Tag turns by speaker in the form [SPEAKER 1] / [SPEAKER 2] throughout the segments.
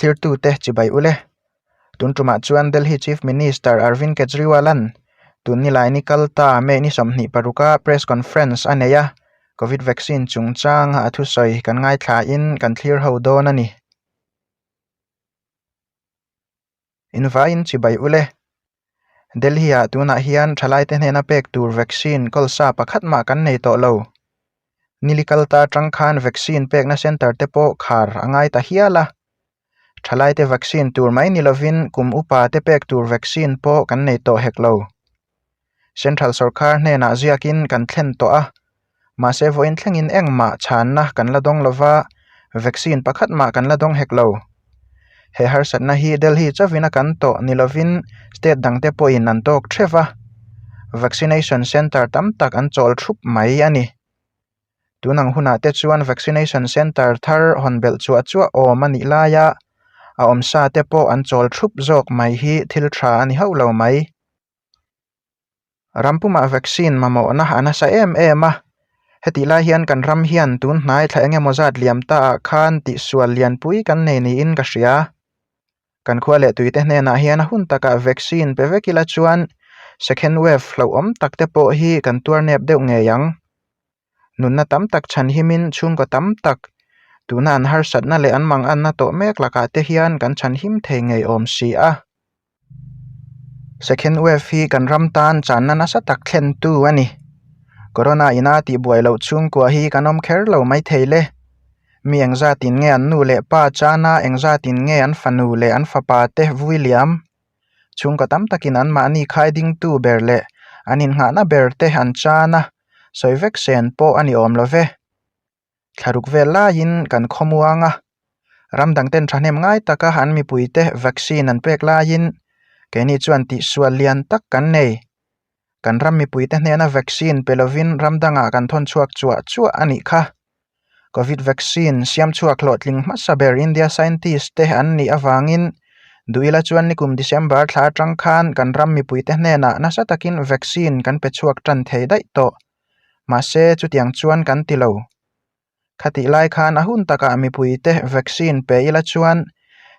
[SPEAKER 1] thirtute chibai ule. Tun tumah chuan Delhi Chief Minister Arvind Kejriwal-an tun ni lai ni kal ta May ni sawmhnih paruka press conference a nei a, Covid vaccine chungchanga a thusawi kan ngaithlahin kan thlir ho dawn a ni. Invaiin chibai u le. Delhi-ah tunah hian thalaite hnena pek tur vaccine kawlsa pakhat mah kan nei tawh lo. Nilikanta tang khan vaccine pekna centre te pawh khar a ngai ta hial a. Thalaite vaccine tur mai ni lovin kum upa te pek tur vaccine pawh kan nei tawh hek lo. Central sawrkar hnenah ziakin kan thlen tawh a, mahse vawiin thlengin engmah chhanna kan la dawng lo va, vaccine pakhat mah kan la dawng hek lo. He harsatna hi Delhi chavin a kan tawh ni lovin state dangte pawhin an tawk threv a, vaccination centre tam tak an chawl thup mai a ni. Tun ang hunah te chuan vaccination centre thar hawn belh chuah chuah awm a nih lai a, a awm sa te pawh an chawl thup zawk mai hi thil tha a ni hauh lo mai. Rampumah vaccine mamawhna a nasa em em a, hetih lai hian kan ram hian tunhnai thlai enge maw zat liam ta ah khan tihsual lian pui kan nei niin ka hria. Kan khua leh tuite hnenah hian a hun takah vaccine pe vek ila chuan second wave hlauhawm takte pawh hi kan tuar nep deuh ngei ang. nunna tam tak chhan himin chhungkaw tam tak tuna an harsatna leh an manganna tawh mek lakah te hian kan chhanhim thei ngeiawm si a. Second wave hi kan ram tan channa nasa tak thlentu a ni. Corona ina tihbuai loh chhungkua hi kan awm kher lo mai thei le. Mi engzatin nge an nu leh pa chana engzatin nge an fanu leh an fapa te vui liam? Chhungkaw tam takin anmahni khai dingtu ber leh an innghahna ber te an chan a, sawi vek sen pawh a ni awm lo ve. Thlaruk vel laiin kan khawmuang a, ram dangten thahnem ngai taka an mipuite vaccine an pek laiin keini chuan tihsual lian tak kan nei. Kan ram mipuite hnena vaccine pe lovin ram dangah kan thawn chhuak chuah chuah a nih kha. Covid vaccine siam chhuak hlawhtling hmasa ber India scientist te an nih avangin duh ila chuan ni kum December thla atang khan kan ram mipuite hnenah nasa takin vaccine kan pe chhuak tan thei daih tawh. Mahse chutiang chuan kan ti lo. Khatih lai khan a hun takah mipuite vaccine pe ila chuan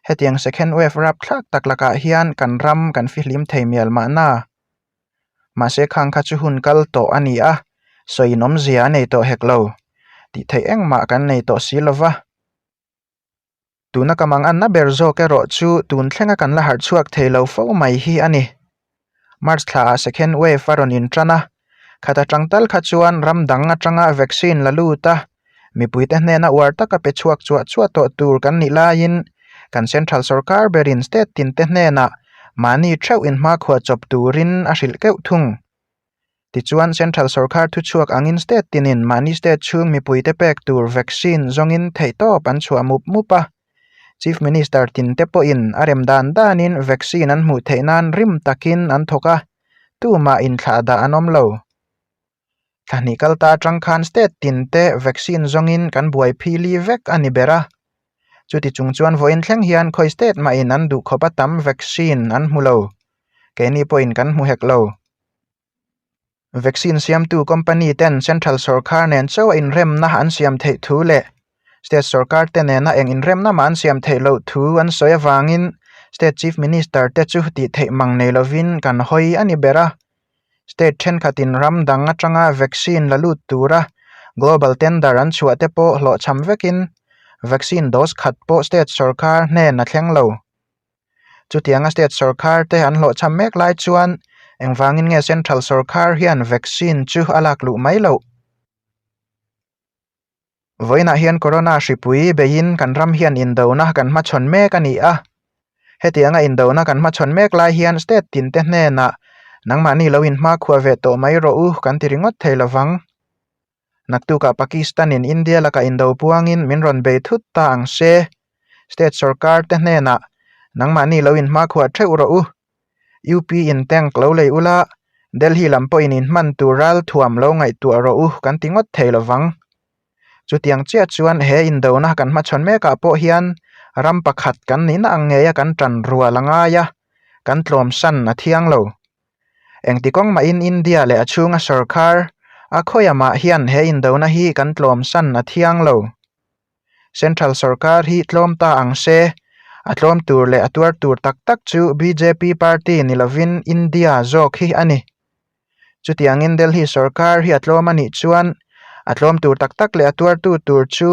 [SPEAKER 1] hetiang second wave rap thlak tak lakah hian kan ram kan fihlim thei mial mahna. Mahse khang kha chu hun kal tawh a ni a, sawiin awmzia a nei tawh hek lo, tih theih engmah kan nei tawh si lova. tuna ka mang anna ber zawk erawh chu tun thlenga kan la harh chhuak thei lo fo mai hi a ni. March thla ah second wave a rawn inṭan a, khat aṭang tal kha chuan ram dang aṭanga vaccine la lut a, mipuite hnena uar taka pe chhuak chuah chuah tawh tur kan nih laiin kan central sawrkar berin state tinte hnenah mahni ṭheuh inhma khuah chawp turin a hrilh keuh thung. Tichuan, Central sorkar thuchhuak angin state tinin mahni state chhung mipuite pek tur vaccine zawngin theihtawp an chhuah mup mup a. Chief Minister Tin te pawhin a rem dan danin vaccine an hmuh theih nan rim takin an thawk a, tumah inthlah dah an awm lo. Tlahnih kal ta atang khan state tin te vaccine zawngin kan buai phili vek a ni ber a. Chuti chung chuan vawiin thleng hian khawi state mahin an duh khawp a tam vaccine an hmu lo. Keini pawhin kan hmu hek lo. Vaccine siamtu company ten central sawrkar nen chauh inremna an siam theih thu leh state sawrkar te nena eng inremna mah an siam theih loh thu an sawi avangin state chief minister te chu tih theih mang nei lovin kan hawi a ni ber a. State thenkhatin ram dang atanga vaccine la lut tura global tender an chhuah te pawh hlawhchham vekin vaccine dose khat pawh state sawrkar hnena thleng lo. Chutianga state sorkar te an hlawhchham mek lai chuan engvangin nge central sorkar hian vaccine chu a lak luh mai loh? Vawiinah hian Corona hripui beiin kan ram hian indona kan hmachhawn mek a ni a. Hetianga indona kan hmachhawn mek lai hian state tinte hnenah nangmahni lo inhma khua ve tawh mai rawh u kan ti ringawt thei lovang. Naktuk ah Pakistan in India laka indo puang in min rawn bei thut ta ang se, state sorkar te hnen ah nangmahni lo in hmakhuah theuh rawh u, UP in tank lo lei u la, Delhi lam pawh in in hman tur ral thuam lo ngaihtuah rawh u kan ti ngawt thei lo vang. Chu tiang chiah chuan he indo na kan hmachhawn mek ah pawh hian ram pakhat kan nihna ang ngeia kan tan rual a ngai a, kan tlawmsan a thiang lo. Engti kawng mahin India leh a chhunga sorkar a khawiamah hian he indona hi kan tlawmsan a thiang lo. Central sorkar hi tlawm ta ang se, a tlawm tur leh a tuar tur tak tak chu bjp party ni lovin India zawk hi a ni. Chutiangin Delhi sorkar hi a tlawm a nih chuan a tlawm tur tak tak leh a tuartu tur chu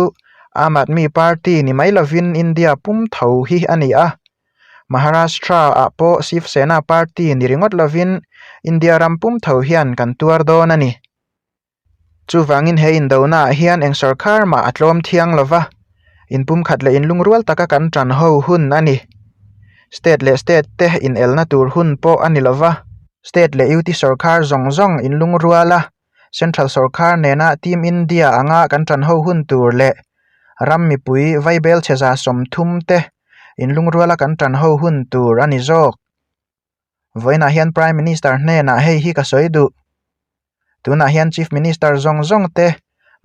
[SPEAKER 1] Aam Aadmi party ni mai lovin India pum tho hi a ni a. Maharashtra ah pawh Shiv Sena party ni ringawt lovin India ram pum tho hian kan tuar dawn a ni. Chuvangin he indona ah hian eng sawrkar mah a tlawm thiang lo va, inpumkhat leh inlungrual taka kan tan ho hun a ni. State leh state te inelna tur hun pawh a ni lo va, state leh UT sawrkar zawng zawng inlungruala Central sawrkar nena Team India anga kan tan ho hun tur leh ram mipui vaibel chheza sawm thum te in lungruala kan tan ho hun tur a ni zawk. Vawiinah hian Prime Minister hnenah hei hi ka sawi duh, tunah hian Chief Minister zawng zawng te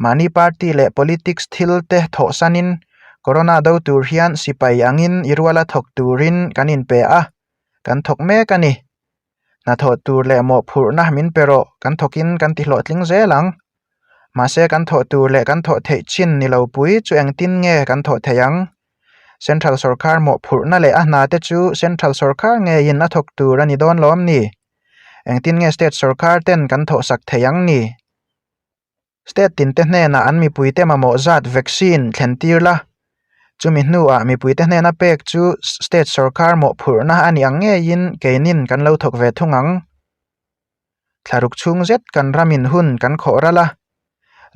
[SPEAKER 1] mahni party leh politics thil te thawhsanin Corona do tur hian sipai angin i ruala thawk turin kan inpe a, kan thawk mek a ni. Hnathawh tur leh mawh phurhna min pe rawh kan thawkin kan ti hlawh tling zel ang. Mahse kan thawh tur leh kan thawh theih chin ni lo pui chu engtin nge kan thawh theih ang? Central sorkar mawh phurhna leh a hna te chu central sorkar ngeiin a thawk tur a ni dawn lawm ni? Engtin nge state sorkar ten kan thawh sak theih ang ni? State tinte hnena an mipuite mamawh zat vaccine thlentir la, chumi hnuah mipuite hnena pek chu state sorkar mawhphurhna a ni ang ngeiin keinin kan lo thawk ve thung ang. Thlaruk chhung zet kan ramin hun kan khawh ral a,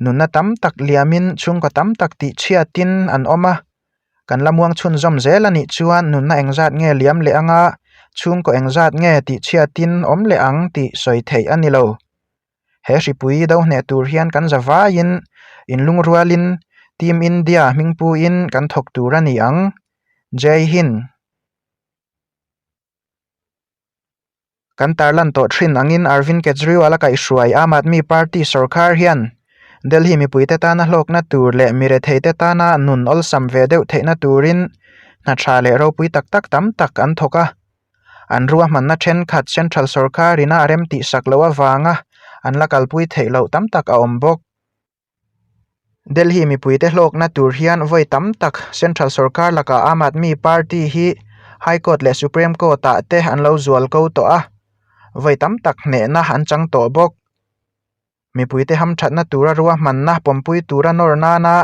[SPEAKER 1] nunna tam tak liamin chhungkaw tam tak tihchhiatin an awm a, kan la muangchhun zawm zel anih chuan nunna engzat nge liam leh anga, chhungkaw engzat nge tihchhiatin awm leh ang tih sawi theih a ni lo. he hripui do hneh tur hian kan za vaiin inlungrualin team India hmingpuiin kan thawk tur a ni ang. Jai Hind. Kan tarlan tawh thin angin Arvind Kejriwal a kaihhruai Aam Aadmi Party sorkar hian Delhi mipuite tana hlawkna tur leh miretheite tana nun awlsam ve deuh theihna turin hna tha leh ropui tak tak tam tak an thawk a, an rua hmanna thenkhat central sorkarin a rem tih sak loh avanga an la kalpui theih loh tam tak a awm bawk. Delhi mipuite hlawkna tur hian vawi tam tak central sorkar lakah Aam Aadmi Party hi High Court leh Supreme Court ah te an lo zual ko tawh a, vawi tam tak hnehna an chang tawh bawk. Mipuite hamthatna tura ruahmanna pawmpui tura nawr nana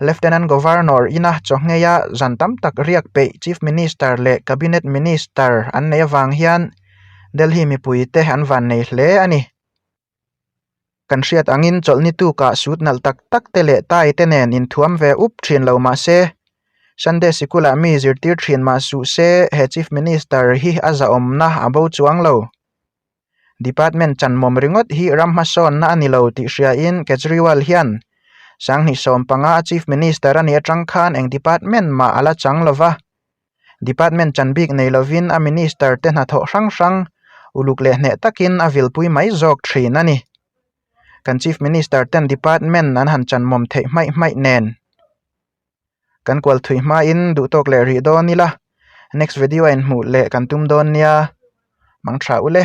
[SPEAKER 1] Lieutenant Governor ina chawhngheia zan tam tak riak peih Chief Minister leh Cabinet Minister an nei avang hian Delhi mipuite an vannei hle a ni. Kan hriat angin chawlhnitukah sut nalh tak tak te leh tai te nen inthuam ve up thin lo mahse, Sunday Sikula mi zirtir thin mah suh se he Chief Minister hi a zahawmna a bo chuang lo. Department chanmawm ringawt hi ram hmasawnna a ni lo tih hriain Kejriwal hian Sanghnih sawm panga a Chief Minister a nih atang khan eng Department mah a la chang lo va, Department chanbik nei lovin a Minister te hnathawh hrang hrang uluk leh hneh takin a vilpui mai zawk thin a ni. Kan Chief Minister ten Department an han chanmawm theih hmaih hmaih nen. kan kual thui hmain duh tawk leh rih dawn ila next video ah inhmuh leh kan tum dawn nia hmang tha ule.